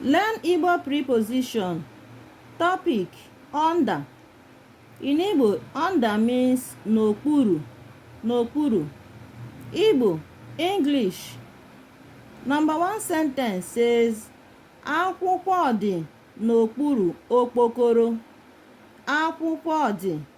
Learn Igbo preposition. Topic under. In Igbo, under means n'okpuru, n'okpuru. Igbo, English. Number one sentence says, akwụkwọ dị n'okpuru okpokoro. Akwụkwọ dị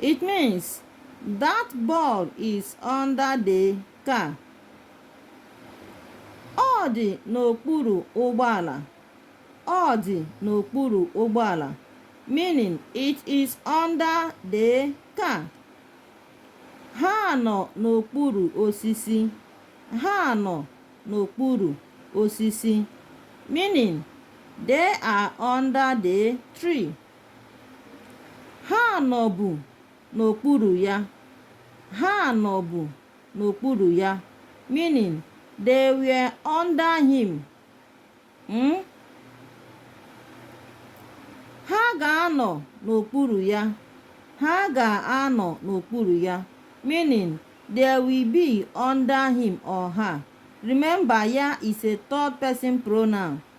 It means that ball is under the car. Ọ dị n'okpuru ụgbọala. Ọ dị n'okpuru ụgbọala. Meaning, it is under the car. Ha nọ n'okpuru osisi. Ha nọ n'okpuru osisi. Meaning, they are under the tree. Ha nọbu n'okpuru ya. Ha nọbu n'okpuru ya. Meaning, they were under him. Hmm? Ha ga-anọ n'okpuru ya. Ha ga-anọ n'okpuru ya. Meaning, they will be under him or her. Remember, ya is a third person pronoun.